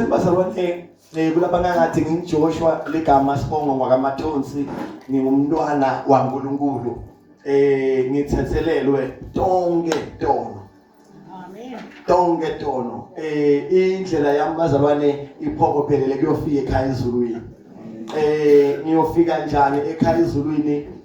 Bazalwane eh kulabanakathi ngingiJoshua ligama sibongo ngwakamathonsi ngingumntwana waNkulunkulu eh ngithethelelwe tonke tono Amen tonke tono eh indlela yami bazalwane iphokophelele kuyofika ekhaya ezulwini eh ngiyofika njani ekhaya ezulwini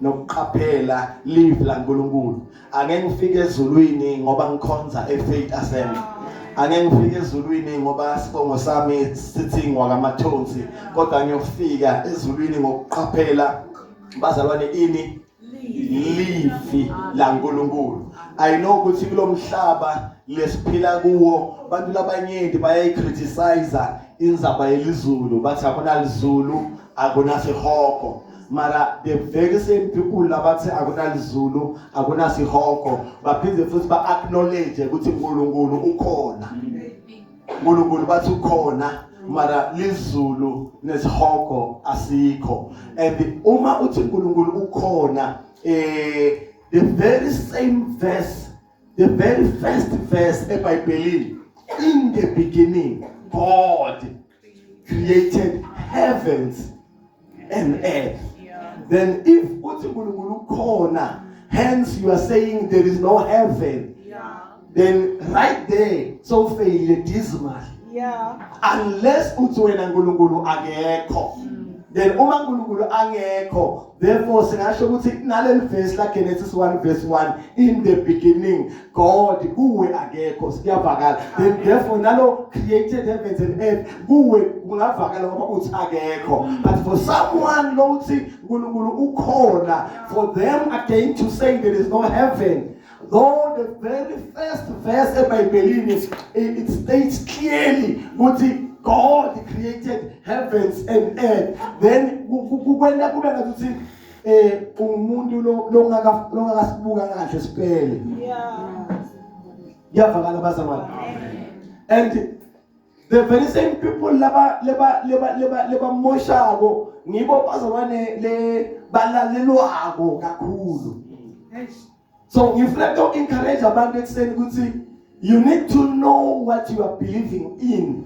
nokuqaphela live la Nkulunkulu ake ngifike ezulwini ngoba ngikhonza eFaith Assembly ake ngifike ezulwini ngoba sibongo sami sithi ngwakamathonsi kodwa ngiyofika ezulwini ngokuqaphela bazalwane ini livi la Nkulunkulu i know ukuthi kulomhlaba lesiphila kuwo abantu labanyenti bayayicriticize inzaba yelizulu bathi akunalizulu akunasihogo mara the very same people labathi akunalizulu akunasihogo baphinde futhi ba-acknowledge ukuthi unkulunkulu ukhona unkulunkulu bathi ukhona mara lizulu nesihogo asikho and uma uthi unkulunkulu ukhona eh the very same verse the very first verse ebhayibhelini in the beginning god created heavens and earth then if uthi uNkulunkulu ukhona hence you are saying there is no heaven yeah. then right there so fail dismal yeah unless uthi wena uNkulunkulu akekho mm. then uma uNkulunkulu angekho Therefore singasho ukuthi kunaleli verse la Genesis 1 verse 1 in the beginning God kuwe akekho siyavakala then therefore nalo created heavens and earth kuwe kungavakala ngoba uthi akekho but for someone lo uthi uNkulunkulu ukhona for them again to say there is no heaven Though the very first verse ebhayibhelini it states clearly ukuthi God created heavens and earth then kukwenda kube ngathi uthi eh umuntu longaka longakasibuka kahle sipele yeah yavakala bazalwane and the very same people laba leba leba leba lebamoshako ngibo bazoba le balalelwako kakhulu so ngifuna to encourage abantu ekuseni ukuthi you need to know what you are believing in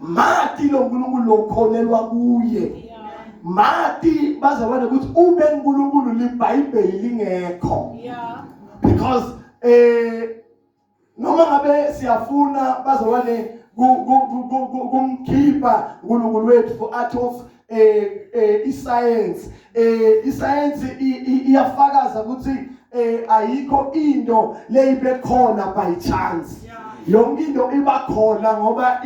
mati lo nkulunkulu lokholelwa kuye mati bazabona ukuthi ube nkulunkulu libhayibheli lingekho because eh noma ngabe siyafuna bazalwane kumkhipha uNkulunkulu wethu for art of eh, eh isayensi eh isayensi iyafakaza ukuthi eh ayikho into leyibekhona by chance yonke into iba khona ngoba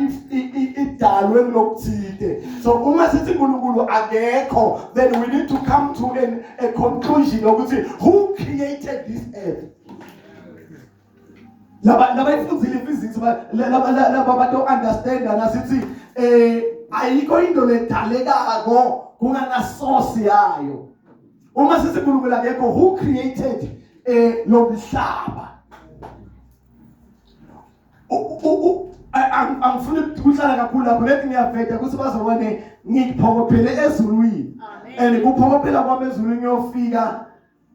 idalwe kulokuthide so uma sithi uNkulunkulu akekho then we need to come to an, a conclusion ukuthi who created this earth laba laba ifundile physics laba laba bato understand nasithi eh ayikho into ledalekako kungana source yayo uma sisikhulumela ngekho who created eh lomhlaba angifuni ukuhlala kakhulu lapho lethi ngiyaveda ukuthi bazobone ngiphokophele ezulwini and kuphokophela kwami ezulwini ngiyofika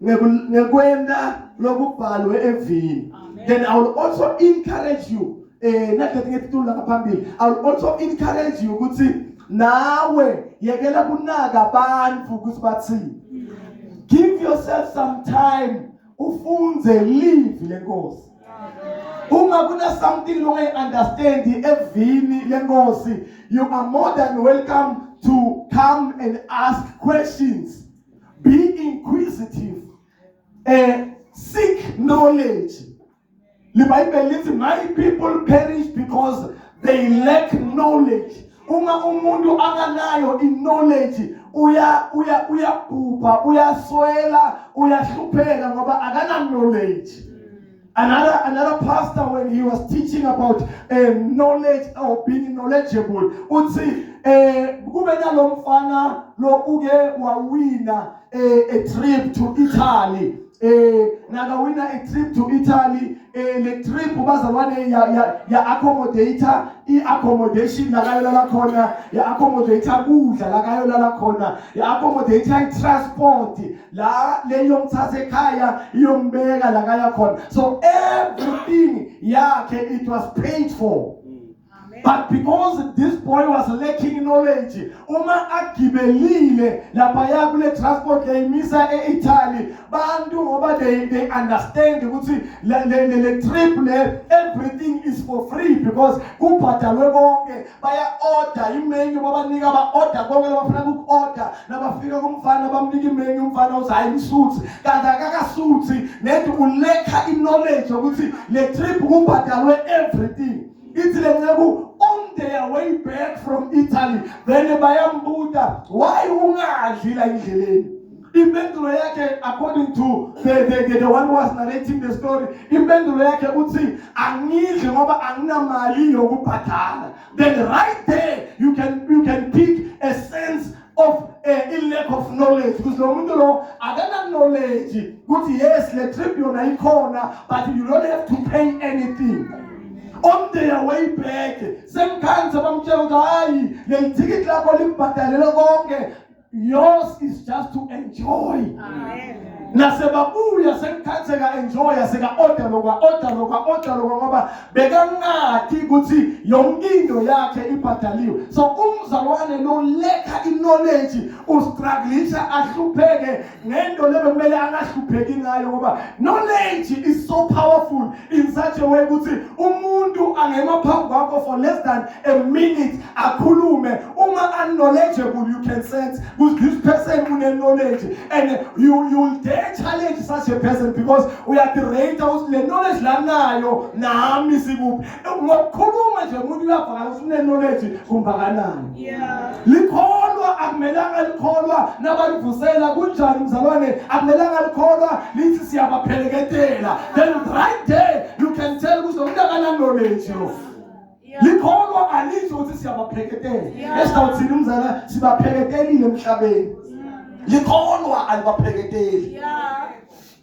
ngekwenta lokubhalwe evini then i will also encourage you eh nakhethe ngetitulu lapha phambili i will also encourage you ukuthi nawe yekela kunaka abantu ukuthi bathini give yourself some time ufunze live lenkosi uma kuna something longayi understand evini lenkosi you are more than welcome to come and ask questions be inquisitive eh seek knowledge libhayibheli lithi my people perish because they lack knowledge uma umuntu akanayo i-knowledge uya uya uyabhubha uyaswela uyahlupheka ngoba akana-knowledge Another, another pastor, when he was teaching about uh, knowledge or being knowledgeable, uthi eh kube nalomfana lo uke wawina eh, a trip to Italy eh nakawina a trip to Italy eh le trip bazalwane ya ya, ya accommodator i accommodation la kayo la khona ya accommodator kudla la kayo la khona ya accommodator i transport la le yomthatha ekhaya iyombeka la kaya khona so everything yakhe it was paid for but because this boy was lacking knowledge uma agibelile lapha ya kule transport layimisa eItaly bantu ngoba they they understand ukuthi le le trip le everything is for free because kubhadalwe konke baya-oda imenyu babanika ba-oda konke labafuna kuku-oda nabafika kumfana bamnika imenyu umfana uthi hhayi ngisuthi kanti akakasuthi nedi ulekha i-knowledge yokuthi le trip kubhadalwe everything ithi le nceku on their way back from italy then bayambuda why ungadli la indleleni Impendulo yakhe according to the, the, the, the one was narrating the story, impendulo yakhe uthi angidli ngoba anginamali yokubhadala. Then right there you can you can pick a sense of uh, a lack of knowledge because lo muntu lo akana knowledge ukuthi yes le trip yona ikhona but you don't have to pay anything on their way back semkhanze bamtshela ukuthi hayi leli thikithi lakho libhadalele konke yours is just to enjoy nasebabuya sekukhathi seka-enjoya seka-oda lokwa-oda lokwa-oda lokwa ngoba bekangathi ukuthi yonke into yakhe ibhadaliwe so umzalwane lo lekha iknowledge ustruglisha ahlupheke ngento le bekumele angahlupheki ngayo ngoba knowledge is so powerful in such a way ukuthi umuntu angema phambi kwakho for less than a minute akhulume uma unknowledgeable you can sense ukuthi this person une knowledge and you you dare challenge such a person because uyadirate ukuthi le knowledge lanayo nami sikuphi ngokukhuluma nje umuntu uyavakala ukuthi unenoleji kumbakanani likholwa akumelanga likholwa nabalivusela kunjani mzalwane akumelanga likholwa lithi siyabaphelekedela then right there you can tell ukuthi umuntu akananoleji lo likholwa alisho ukuthi siyabapheketela esidawuthini umzala sibapheketelile emhlabeni likholwa alibapheketeli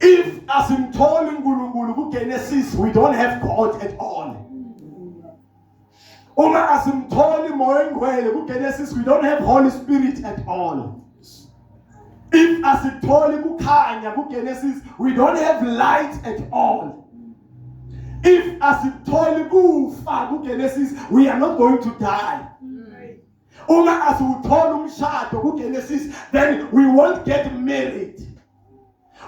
If asimtholi uNkulunkulu kuGenesis we don't have God at all. Uma asimtholi moya oyingcwele kuGenesis we don't have Holy Spirit at all. If asitholi kukhanya kuGenesis we don't have light at all. If asitholi kufa kuGenesis we are not going to die. uma asiwuthola umshado kuGenesis then we won't get married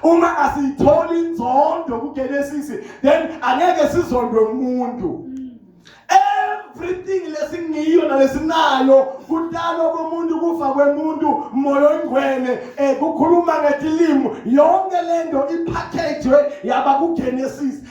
uma asiyitholi inzondo kuGenesis then angeke sizondwe umuntu everything lesingiyo nalesinayo kudalwa komuntu kufa kwemuntu moya oyingcwele eh kukhuluma ngetilimo yonke lento ipackage yaba kuGenesis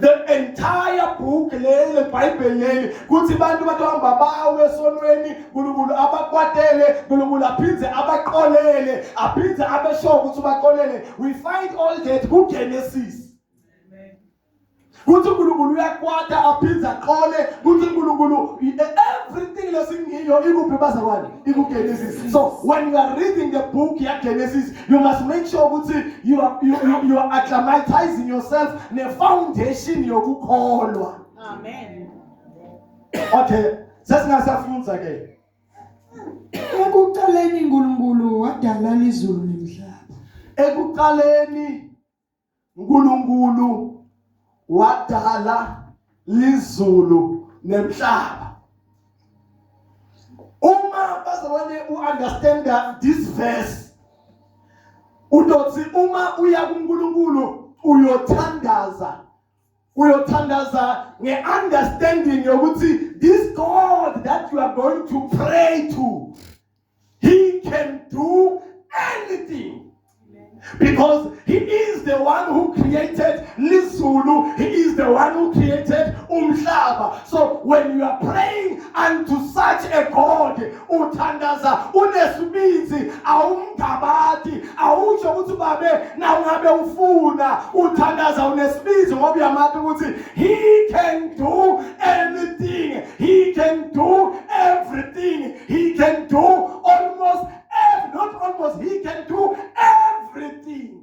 the entire book leli lebhayibheli leli kuthi abantu bathi hamba bawe esonweni nkulunkulu abakwatele nkulunkulu aphinde abaqolele aphinde abeshoyo ukuthi ubaqolele we find all that kugenesis kuthi uNkulunkulu uyakwata aphinde aqole kuthi uNkulunkulu everything lesingiyo ikuphi bazalwane ikuGenesis so when you are reading the book ya Genesis You must make sure ukuthi you are you, you, you are acclimatizing yourself ne foundation yokukholwa. Amen. Okay, sesingasafunda ke. Ekuqaleni uNkulunkulu wadala izulu nomhlaba. Ekuqaleni uNkulunkulu wadala izulu nemhlaba uma bazobone u-understanda this verse udothi uma uya kuNkulunkulu uyothandaza uyothandaza ngeunderstanding yokuthi this God that you are going to pray to He can do anything. Because he is the one who created Lizulu, he is the one who created Umhlaba. So when you are praying unto such a God, uthandaza unesibindi awumgabadi awusho ukuthi babe nawe ngabe ufuna uthandaza unesibindi ngoba uyamati ukuthi he can do anything he can do everything He can do almost every, not almost he can do everything.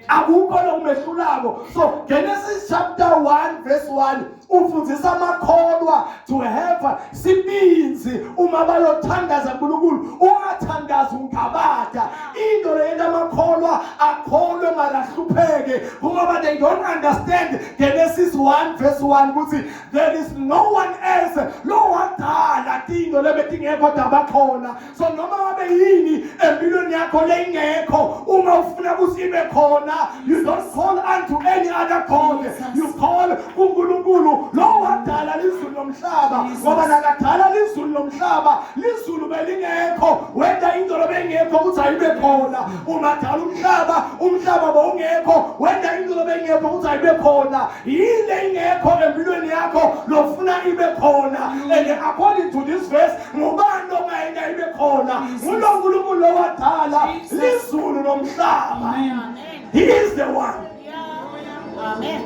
akukho lokumehlulako so genesis chapter 1 verse 1 ufundisa amakholwa to have sibinzi uma bayothandaza nkulunkulu ungathandazi ungabada into leyento amakholwa akholwe makahlupheke ngoba they don't understand genesis 1 verse 1 ukuthi there is no one else lo wadala tinto lebetingekho dabakhona so noma ngabe yini empilweni yakho leyingekho uma ufuna ukuthi ibe khona you don't call unto any other god you call kuNkulunkulu lo wadala lizulu lomhlaba ngoba nakadala lizulu lomhlaba lizulu belingekho wenda into lobengekho ukuthi ayibe khona uma dala umhlaba umhlaba bowungekho wenda into lobengekho ukuthi ayibe khona yini leyingekho empilweni yakho lofuna ibe khona and according to this verse ngubani ongayeka ibe khona ngulo nkulunkulu lowadala lizulu nomhlaba he is the one amen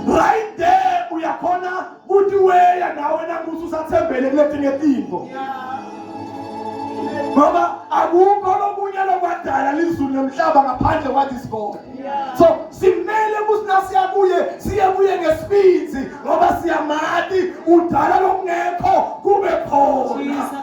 right there uyakhona Uthi weya nawe nakuthi usathembele kuletinye itinto. Ngoba akukho lokunye lokwadala lizulu nomhlaba ngaphandle kwathi sikole. So simele ukuthi nasiya kuye siye kuye ngesibindi ngoba siyamati udala lokungekho kube khona.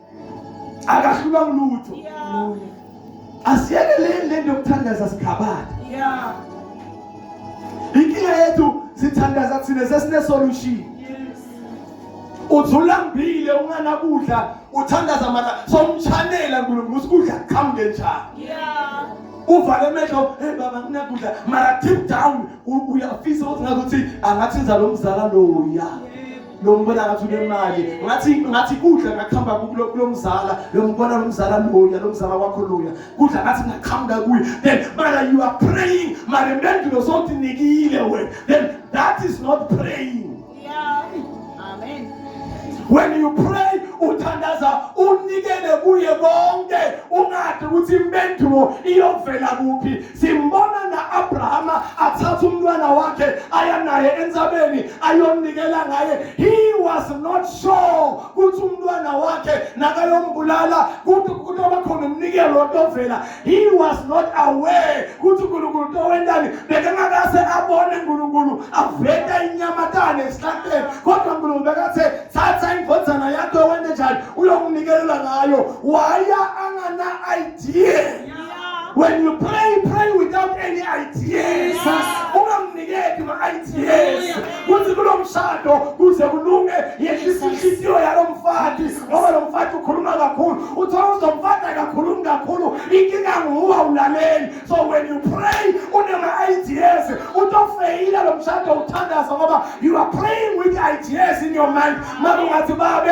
akahlulwa ngulutho asiyeke le lento yokuthandaza sikhabana inkinga yethu sithandaza thina sesine solution uzulambile unganakudla uthandaza mara somchanela nkulunkulu usikudla kuqhamuke njani uvale emehlo hey baba nginakudla mara deep down uyafisa ukuthi ngathi angathi nzalo mzala loya yeah. lo ngibona ngathi unemali ngathi ngathi kudla ngakuhamba kulo mzala lo ngibona lo mzala loya lo mzala wakho loya kudla ngathi ngaqhamuka kuye then mara you are praying mara impendulo sothi nikile wena then that is not praying yeah. amen when you pray uthandaza unikele kuye konke ungathi ukuthi impendulo iyovela kuphi Simbona na Abrahama athatha umntwana wakhe aya naye entsabeni ayonikela ngaye. He was not sure ukuthi umntwana wakhe nakayombulala kuthi kutoba khona umnikelo otovela. He was not aware ukuthi uNkulunkulu utowendani bekangakase abone uNkulunkulu aveta inyamatane esihlahleni kodwa uNkulunkulu bekathe thatha indvodzana yakho wende njani uyomnikelela ngayo waya angana idea When you pray, pray without any ideas. Ungamnikeki ma-ideas kuthi kulo mshado kuze kulunge yehlisa inhliziyo yalo mfati ngoba lo mfati ukhuluma kakhulu uthola ukuthi lo mfati akakhulumi kakhulu inkinga nguwe awulaleli so when you pray unema-ideas utofeyila lo mshado uthandaza ngoba you are praying with ideas in your mind mara ungathi babe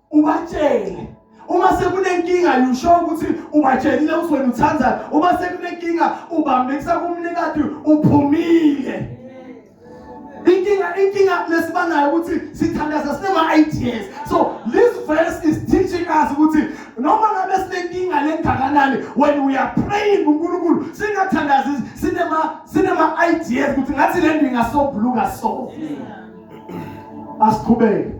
ubatshele uma sekunenkinga yusho ukuthi ubatshelile ukuthi wena uthandani uma sekunenkinga ubambekisa kumnikati uphumile inkinga inkinga lesibanayo ukuthi sithandaza sinema-ideas so this verse is teaching us ukuthi noma ngabe sinenkinga lengakanani when we are praying kunkulunkulu singathandazi sinema-ideas ukuthi ngathi le nto ingasobhuluka so asiqhubeke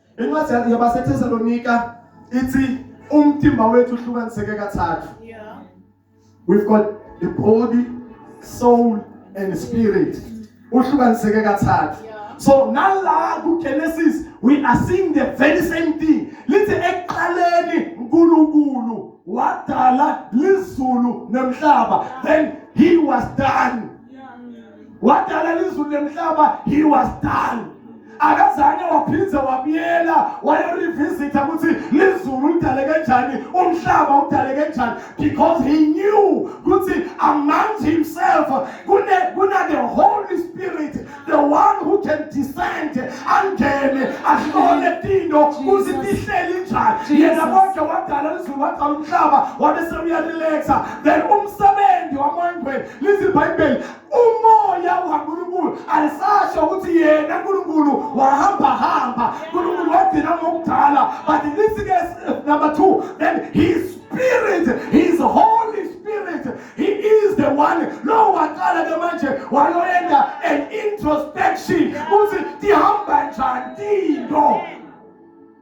incwadi yabaseThesalonika ithi umtimba wethu uhlukaniseke kathathu yeah we've got the body soul and spirit uhlukaniseke kathathu so nala ku Genesis we are seeing the very same thing lithi ekuqaleni uNkulunkulu wadala lizulu nemhlaba then he was done wadala izulu nemhlaba he was done akazange waphinde wabuyela wayorevisitha ukuthi lizulu lidale kanjani umhlaba udale kanjani because he knew ukuthi among himself kune kuna the holy spirit the one who can descend angene ahlole tinto ukuthi tihleli njani yena konke wadala lizulu wadala umhlaba wabe sewuyarelaxa then umsebenzi wamangweni lithi ibhayibheli umoya ukaNkulunkulu alisasho ukuthi yena uNkulunkulu wahamba hamba uNkulunkulu wagcina ngokudala but in this case number 2 then his spirit his holy spirit he is the one lo waqala ke manje wayoyenza an introspection ukuthi tihamba njani tinto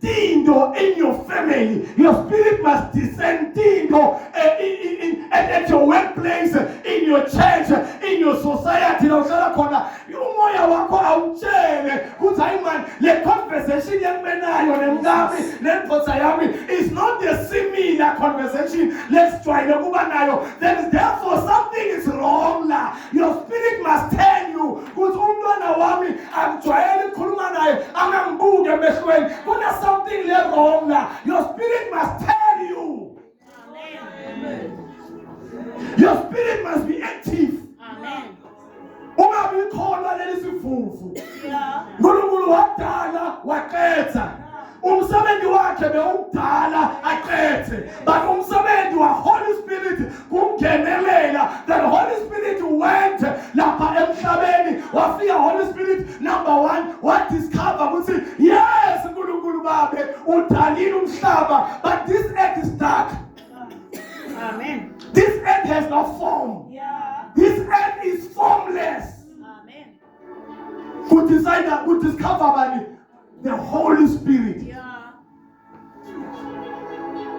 Tindo in your family. Your spirit must descend Tindo eh, in, in, in, at your workplace, in your church, in your society. Now, uhlala khona umoya wakho awutshele kuthi hayi mani le conversation yekumenayo nemkami nendoda yami is not the similar conversation lesijwayele ukuba nayo there is therefore something is wrong la Your spirit must tell you ukuthi umntwana wami akujwayele ukukhuluma naye angangibuke emehlweni kuna something le wrong la your spirit must tell you Amen. your spirit must be active Amen. uma bikholwa leli sivuvu uNkulunkulu wadala waqetha umsebenzi wakhe bewukudala aqethe but umsebenzi wa Holy Spirit kungenelela the Holy Spirit went lapha emhlabeni wafika Holy Spirit number 1 wa discover ukuthi yes uNkulunkulu babe udalile umhlaba but this earth is dark amen this earth has no form yeah this earth is formless amen ku decide ku discover bani the holy spirit yeah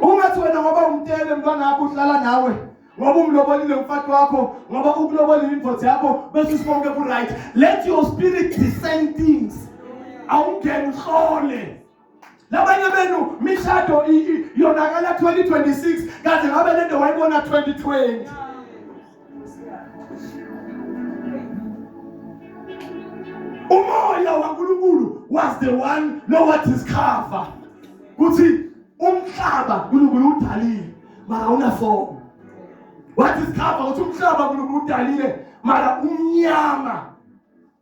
ungathi wena ngoba umtele mntwana wakho uhlala nawe ngoba umlobolile umfati wakho ngoba ukulobolile indoda yakho bese usibonke ku right let your spirit discern things awungeni uhlole labanye benu mishado yonakala 2026 kaze ngabe lento wayibona 2020 umoya wankulunkulu was the one know what is cover kuthi umhlaba unkulunkulu udalile mara unafomo what is cover ukuthi umhlaba unkulunkulu udalile mara umnyama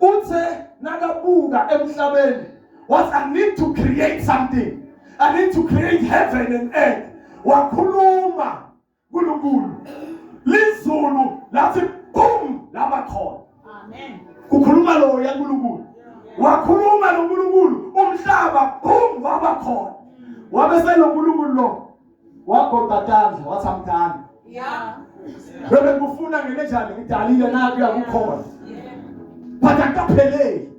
uthe nakabuka emhlabeni was i need to create something i need to create heaven and earth wakhuluma uNkulunkulu lizulu lathi boom laba khona amen kukhuluma lo yaNkulunkulu wakhuluma noNkulunkulu umhlaba boom waba khona wabe senoNkulunkulu lo wagoqa tandla wathi amdala bebe ngikufuna ngenenjani ngidalile naku yakukhona but akapheleli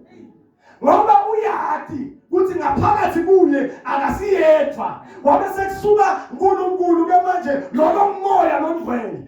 ngoba uyati kuthi ngaphakathi kuye akasiyedwa wabe sekusuka uNkulunkulu ke manje lolo moya longcwele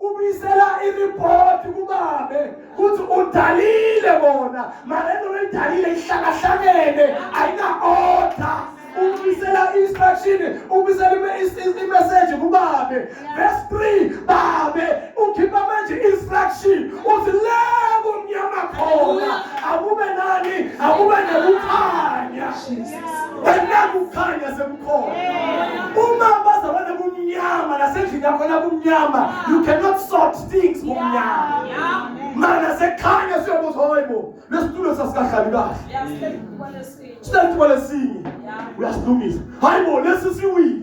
ubisela iripoti kubabe ukuthi udalile bona mara into oyidalile ihlakahlakene ayina-order ubisela i-instruction ubisela imeseji kubabe verse 3 babe ukhipha manje i-instruction uthi le kumnyama khona akube nani akube nekukhanya Kukhanya sekukhona. Uma bazabona kumnyama nasendlini yakho la kumnyama, you cannot sort things kumnyama. Mana sekhanya siyobuza hoyibo, lesitulo sasikahlali kahle. Sithathu kwalesinye. Uyasilungisa. Hayibo lesi siwile.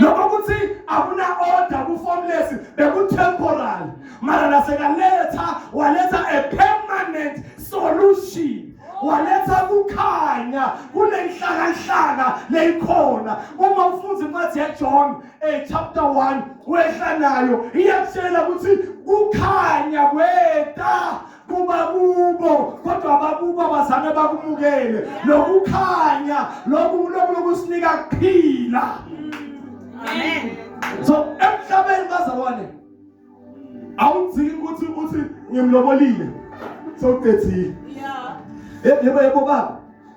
lokho ukuthi akuna order ku formless beku temporal mara nasekaletha waletha a permanent solution waletha kukhanya kunenhlakanhlaka leyikhona uma ufunza incwadi yaJohn eh chapter 1 wehla nayo iyakutshela ukuthi kukhanya kweta kuba kubo kodwa abakubo abazange bakumukele lokukhanya lokhu lokhu lokusinika kuphila amen so emhlabeni bazalwane awudziki ukuthi uthi ngimlobolile sewuqedile yebo yebo baba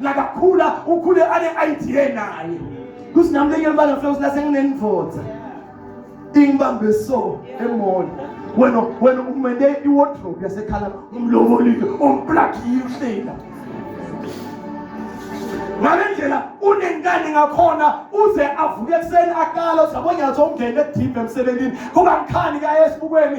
nakakhula ukhule ane-idea naye kuthi nami lenye libanga flowsi lase nginenivotha ingibambe so emona wena wena umende iwardrobe yasekhala umlobolile umplakile uhlela ngale ndlela unenkani ngakhona uze avuke ekuseni akala uthi yabonyatha umndeni edimbe emsebenzini kungakhani kaye esibukweni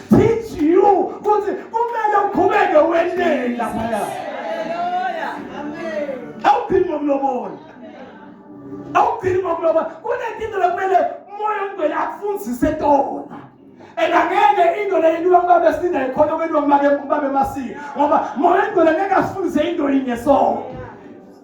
teach you ukuthi kumele uqhubeke wenele laphaya awuphili ngokulobola awuphili ngokulobola kunenkinto lokumele umoya ongcwele akufundise tona and angeke into le into ubabe sinda ikhona kwento ubabe ubabe masiko ngoba moya ongcwele ngeke asifundise into yinye sonke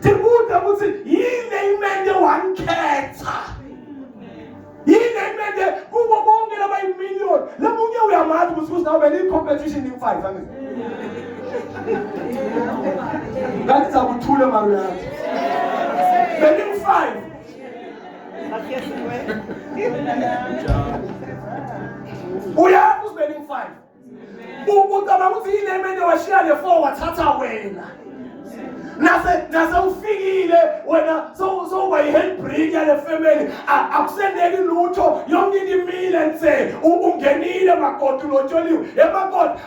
Tibuta ukuthi yini imende wankhetha. Yini imende kubo bonke laba imillion. Lomunye uyamazi ukuthi usinawube ni competition in five angithi. Kanti sakuthule mari yathi. Beni five. Uyazi usibeni five. ucabanga ukuthi yile mene washiya le four wathatha wena nase nase ufikile wena sowuba yi-handbrake yale family akuseneki lutho yonke into imile nse ungenile makoti ulotsholiwe emakoti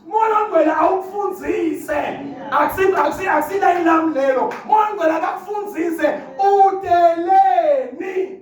moya ongcwele awukufundise akusilayilami lelo moya ongcwele akakufunzise udeleni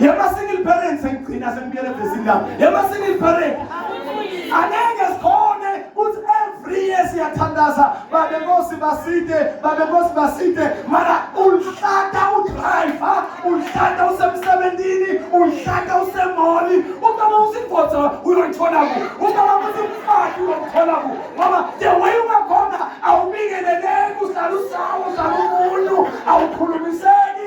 Yama single parents engigcina sengibuyele ebhesini lami. Yama single parent. Angeke sikhone ukuthi every year siyathandaza babe nkosi baside babe nkosi baside mara ulihlata udriver ulihlata usemsebenzini ulihlata usemoli ubaba usingodzo uyolithola ku ubaba usimfati uyolithola ku ngoba the way ungakhona awubingeleleki uhlala usawo uhlala umuntu awukhulumiseki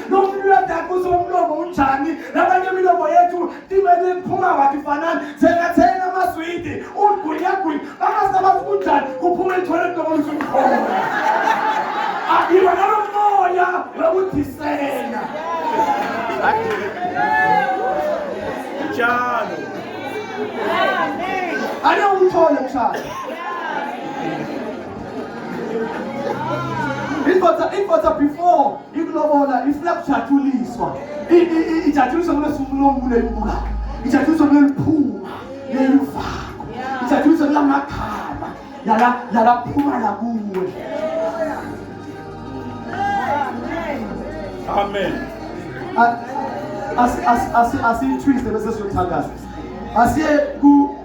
Lomlulatakuse umlomo unjani labanye imilomo yethu timele iphuma wathi fanani thengathena amaswidi ugwinyagwinya bakasabazi kunjani kuphuma ithole kulokomisa umkhomo akiba nalo moya wokudisena njalo ane umthole mshana indoda indoda before Ikulobola ifuna kujatshuliswa. Ijatshuliswa kulesivulo ngule mbuka. Ijatshuliswa kuleli phuma lelivako. Ijatshuliswa kulamakhama yala yala phuma la kuwe. Amen. Asi asi asi asi twist the message of Tagas. Asi ku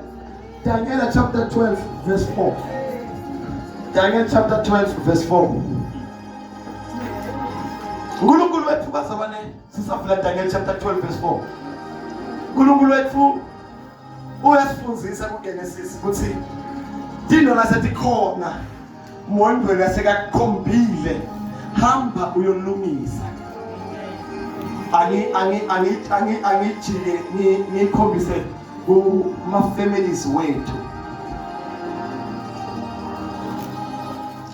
Daniel chapter 12 verse 4. Daniel chapter 12 verse 4. unkulunkulu wethu bazabane sisavula daniel chapter 12 verse 4 unkulunkulu wethu uyasifundisa kugenesis ukuthi tino lasetikhona mondweni asekakukhombile hamba uyolungisa angi angi angi angi angijike ngikhombise kuma families wethu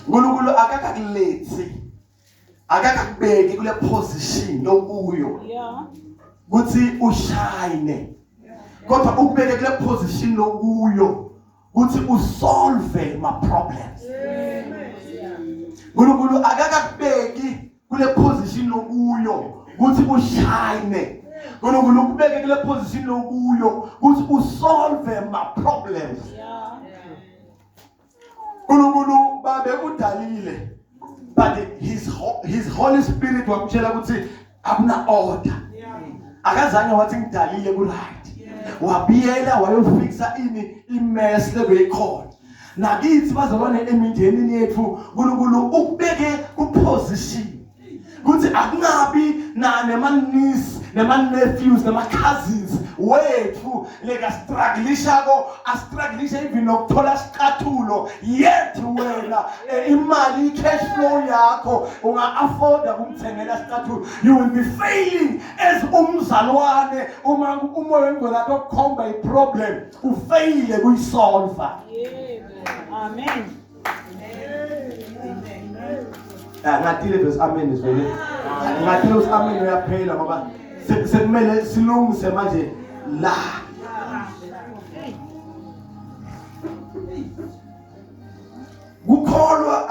uNkulunkulu akakakulethi akakakubeki kule position okuyo ukuthi ushine kodwa ukubeke kule position okuyo ukuthi usolve ma problems uNkulunkulu akakakubeki kule position okuyo ukuthi ushine uNkulunkulu ukubeke kule position okuyo ukuthi usolve ma problems yeah. uNkulunkulu babe udalile but his his holy spirit wamtshela ukuthi akuna order akazange wathi ngidalile ku right wabiyela wayofixa ini imess lebeyikhona nakithi bazalwane emindenini yethu uNkulunkulu ukubeke kuposition kuthi akungabi nema-niece nema-nephews nema-cousins wethu lekastrugglishako astruglisha even nokuthola sicathulo yet wena eh, imali i-cash flow yakho unga-afforda kumthengela sicathulo you will be failing as umzalwane uma umoya wengcwele athi okukhomba iproblem ufeyile kuyisolva amen Ah, ngatile bese amen izwele ngatile uthi amen uyaphela ngoba sekumele silungise manje la kukholwa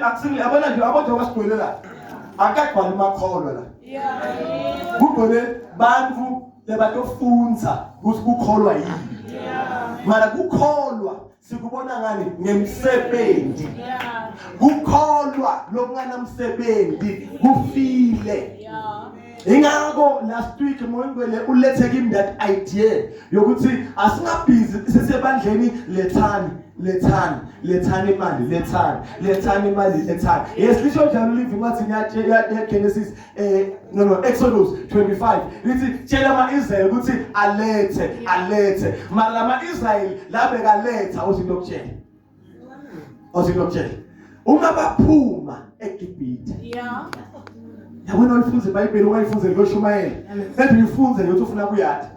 akusile yabona nje abodwa basigwele la akagcwali makholwa la kugwele bantu lebatofundza ukuthi kukholwa yini mara kukholwa sikubona ngani ngemsebenzi kukholwa lokunganamsebenzi kufile ingakho last week moyingwele ulethe kimi that idea yokuthi asingabhizi sisebandleni lethani lethani lethani imali lethani lethani imali lethani yes lisho njalo live incwadi yaGenesis eh no no Exodus 25 lithi tshela amaIsrael ukuthi alethe alethe mara lama Israel labe kaletha ozinto okutshela ozinto okutshela uma baphuma eGibhithe yeah yabona ulifunze iBhayibheli ungayifunze ngoshumayela ethi uyifunze yokuthi ufuna kuyaphi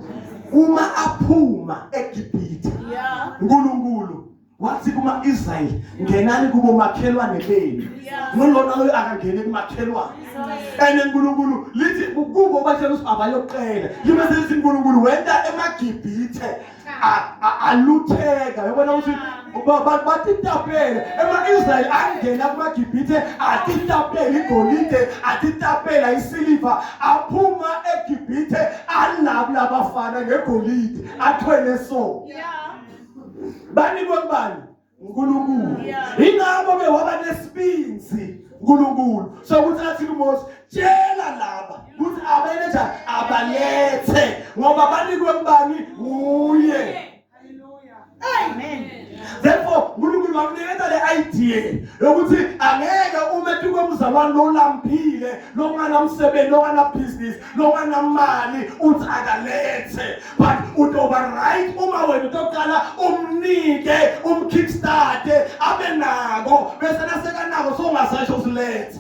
uma aphuma eGibhithe yeah uNkulunkulu wathi kuma-israyeli ngenani kubomakhelwane benu ngilona loyo akangene kumakhelwane and unkulunkulu lithi kubo batshela ukuthi abayoqela libe selithi unkulunkulu wenta emagibhithe alutheka yobona ukuthi batitapele ema-israyeli angena kumagibhithe atitapele igolide atitapela isiliva aphuma egibhithe alabula abafana ngegolide athwele so yeah. banikwe kubani uNkulunkulu ingakho ke waba nesibinzi uNkulunkulu so ukuthi athi kuMose tshela laba ukuthi abeletha abalethe ngoba banikwe kubani uye therefore uNkulunkulu wakunikeza le idea yokuthi angeke ume tukwe mzalwane lolambile longana msebenzi longana business noma namali uthi akalethe but utoba right uma wena utoqala umnike umkickstarte abe nako bese nasekanako songasasho ukuletha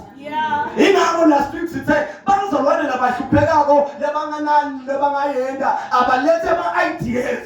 ingakho last week sithe bazalwane labahluphekako lebanganani lebangayenda abalethe ama-ideas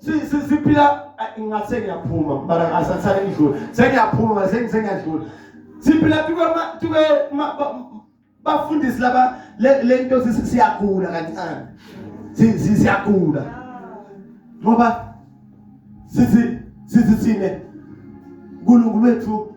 siphila ngathi sengiyaphuma mara ngasasale ngidlula sengiyaphuma sengiyadlula siphila tuke bafundisi laba le nto siyagula kancane siyagula ngoba sithi sithi thine uNkulunkulu wethu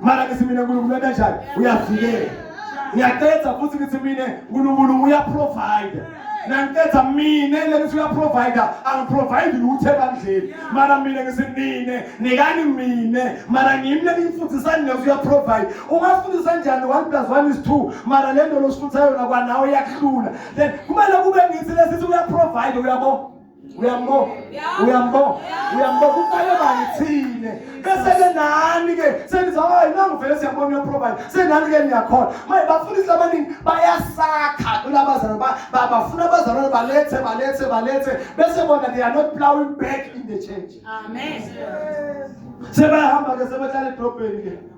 mara ngithi mina unkulunkulu wenta njani uyavikela ngiyaqeda futhi ngithi mina unkulunkulu uyaprovide nangiqeda mina lelithi uyaprovider angiprovide lutho ebandleni mara mina ngithi nine nikani mina mara ngimi leniyifundisani leso uyaprovide ungasifundisa njani one plus one is two mara le nto losifundisa yona kwanawe iyakuhlula then kumele kube ngithi lesithi uyaprovide uyabo uyambona uyambona uyambona kuqale bani thine bese-ke nani-ke seniza hayi nangivele siyambona uyoprovide senani-ke niyakhona manje bafundisi abaningi bayasakha kulabazalwane bafuna abazalwane balethe balethe balethe bese bona they are not plowing back in the church amen sebehamba-ke sebehlala edrobheni-ke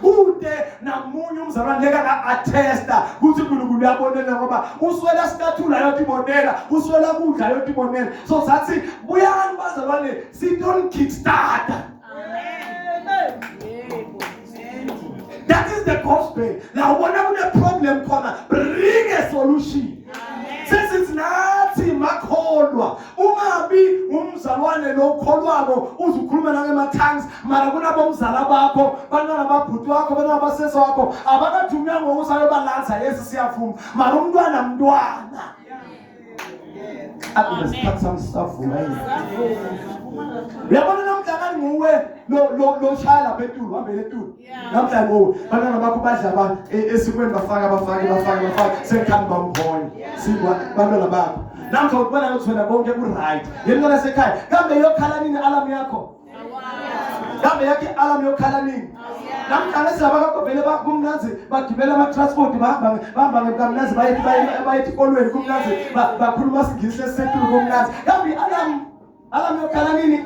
kude namunye umzalwane leka nga-athesta ukuthi unkulunkulu uyabonela ngoba uswela sikathula yotibonela uswela kudla yotibonela so sathi buyani bazalwane siton kickstarter that is the gospel la ubona kune-problem khona bring a solution sesithi nathi makholwa ungabi umzalwane lo ukholwako uze ukhulume nangema-tongues mara kunabomzala bakho bantwana babhuti wakho bantwana basesi wakho abakathi umnyango usayobalanza yesi siyavuma mara umntwana mntwana akude sikhathi sami sisavuma uyabona namdlakani nguwe lo shaya lapha etulu hambele etulu namhlanje ngoku bantwana bakho badla ba e- esikweni bafaka bafake bafake bafake sekhani bamhola sikwa bantwana bakho namkha ukubona ukuthi wena konke ku-right yemntwana sekhaya kambe yokhala nini alamu yakho kambe yakhe alamu yokhala nini namhlanje siyabakakho vele kumnanzi bagibela amatransport bahamba ngemkamnanzi bayethi ekolweni kumnanzi bakhuluma singisi esisetulu kumnanzi kambe alamu alamu yokhala nini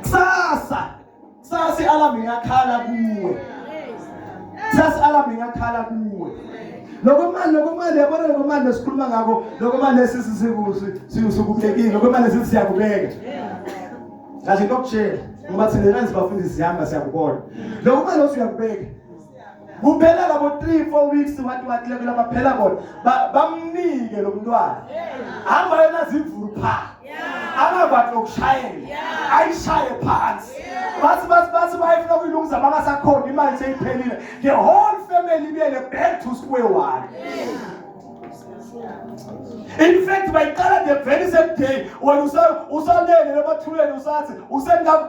kusasa Sasi alarm ingakhala kuwe. Sasi alarm ingakhala kuwe. Lokho manje lokho manje yabona lokho manje sikhuluma ngakho lokho manje sisizikusi siyusukubekile lokho manje sisiyakubeka. Kahle ngokutshela ngoba thina kanzi bafundisi sihamba siyakubona. Lokho manje usuyakubeka. kuphela labo 3 4 weeks wathi wathi lekulo baphela bona bamnike lo mntwana hamba yena zivulu pha angabathi lokushayela ayishaye phansi bathi bathi bathi bayifuna kuyilungisa bangasakhona imali seyiphelile the whole family ibiyele back to square one in fact bayiqala the very same day wena usalele emathuleni usathi usengam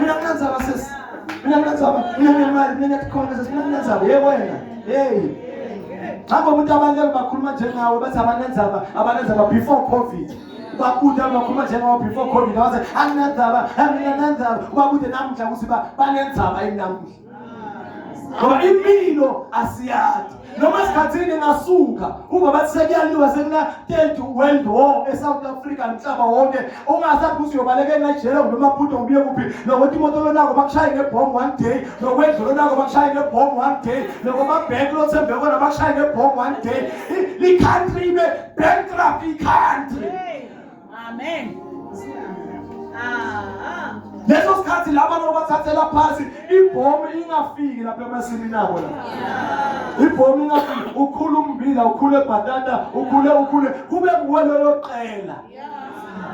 Mina mnanzaba sisi. Mina mnanzaba, mina ngemali, mina ngiyakhona sisi, mina mnanzaba. Hey wena. Hey. Hamba umuntu abaningi bakhuluma njengawe bathi abanenzaba, abanenzaba before COVID. bakude abakhuluma njengawo before covid wathi anginanzaba anginananzaba ubakude namuhla ukuthi banenzaba yini namuhla ngoba impilo asiyazi noma sikhathini ngasuka uma bathi sekuyaliwa sekuna-third world war e-south africa mhlaba wonke ungasathi ukuthi uyobaleka enajele kumbe emabhudo kubuye kuphi nokuthi imoto lonako bakushaye ngebhomu one day nokwendlu lonako bakushaye ngebhomu one day nokwamabhenk lothembe kona bakushaye ngebhomu one day i-country ibe bankrupt i-country Amen. Ah. Leso sikhathi laba nobathathela phansi ibhomu ingafiki lapha emasini nabo la. Ibhomu ingafiki ukhula umbila ukhule bhatata ukhule ukhule kube nguwe loyo qela.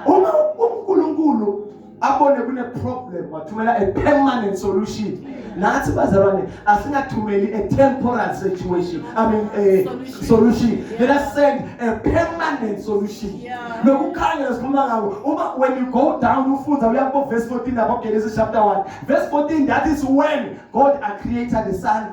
Uma uNkulunkulu abone kune-problem wathumela a permanent solution nathi bazalwane asingathumeli a temporal situation i mean a solution, solution. Yeah. let us send a permanent solution nokukhanya esikhuluma ngako uma when you go down ufunda uya kubo verse 14 lapho genesis chapter 1 verse 14 that is when god a created the sun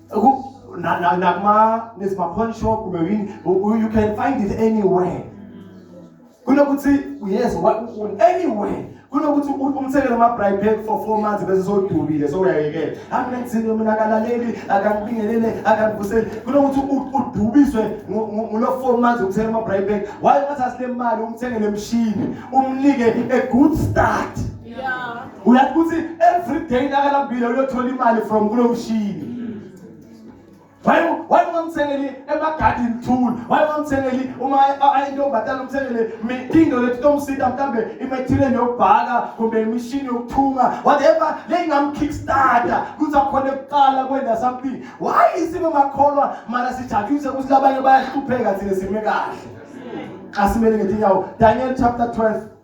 nakuma there's my pawn shop kumbe yini you can find it anywhere kunokuthi yes anywhere kunokuthi umthekele ama-bribe pack for four months bese sodubile sowuyayekela anginenzini mina akalaleli akangibingelele akangibuseli kunokuthi udubiswe ngulo four months umthekele ama-bribe pack waye ngathi asile mali umthengele emshini umnike a good start yeah. uyathi ukuthi every day nakalambile uyothola imali from kulo mshini waye ungamthengeli emagadini tool waye ungamthengeli uma ayintombazane umthengele into lethi tomsita mhlambe imethile yokubhaka kumbe imishini yokuthunga whatever leyingamkickstarter kuthi akhona ekuqala kwenda something why isimo makholwa mara sijatshise ukuthi labanye bayahlupheka thina sime kahle asimele ngetinyawo daniel chapter 12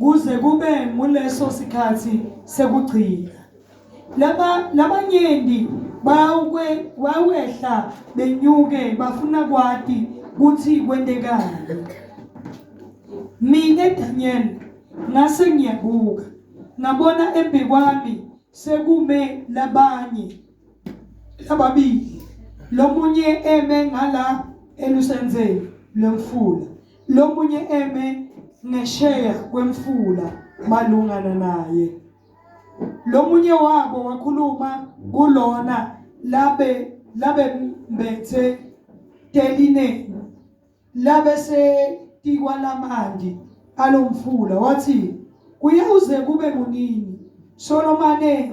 kuze kube nguleso sikhathi sekugcina laba labanyendi bawukwe wawehla benyuke bafuna kwati kuthi kwentekani mina Daniel ngase ngiyabuka ngabona embekwami sekume labanye lababili lomunye eme ngala elusenzeni lomfula lomunye eme ngesheya kwemfula malungana naye lomunye wabo wakhuluma kulona labe labe mbethe teline labe se tikwalamandi alomfula wathi kuye uze kube kunini Solomane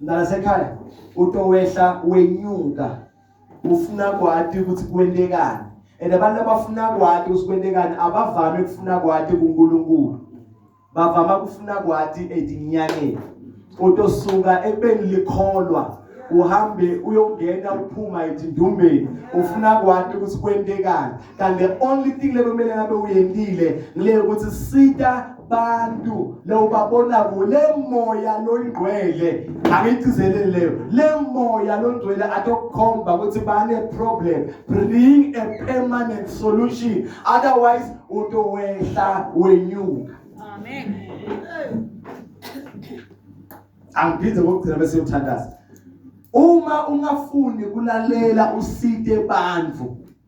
Mntanasekhaya utowehla wenyuka ufuna kwati ukuthi kwentekani and abantu abafuna kwati ukuthi kwentekani abavami ukufuna kwati kuNkulunkulu bavama kufuna kwati edinyangeni utosuka ekubeni likholwa uhambe uyongena uphuma ezindumbeni ufuna kwati ukuthi kwentekani kanti the only thing lekumele ngabe uyendile ngile ukuthi sita abantu lowubabona kule moya longcwele angigcizelele leyo le moya longcwele atokukhomba ukuthi bane problem bring a permanent solution otherwise utowehla wenyuka amen angiphinde ngokugcina bese uthandaza uma ungafuni kulalela usite bandvu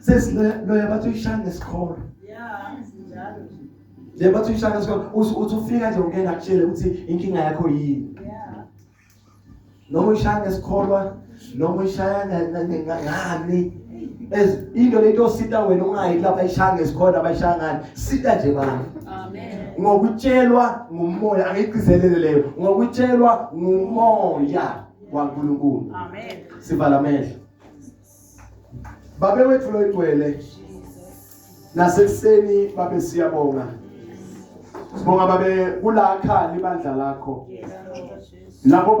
sesiloya bathi uyishaya ngesikholo nje bathi uyishaya ngesikholo uthi ufika nje ungena kutshele ukuthi inkinga yakho yini noma uyishaya ngesikholwa noma uyishaya ngani into lento osita wena ungayi lapha ishaya ngesikhona abayishaya ngani sita nje bani ngokutshelwa ngumoya angiyigcizelele leyo ngokutshelwa ngumoya waNkulunkulu amen sivala amehlo babe wethu loyigcwele nasekuseni babe siyabonga sibonga babe kulakha libandla lakho lapho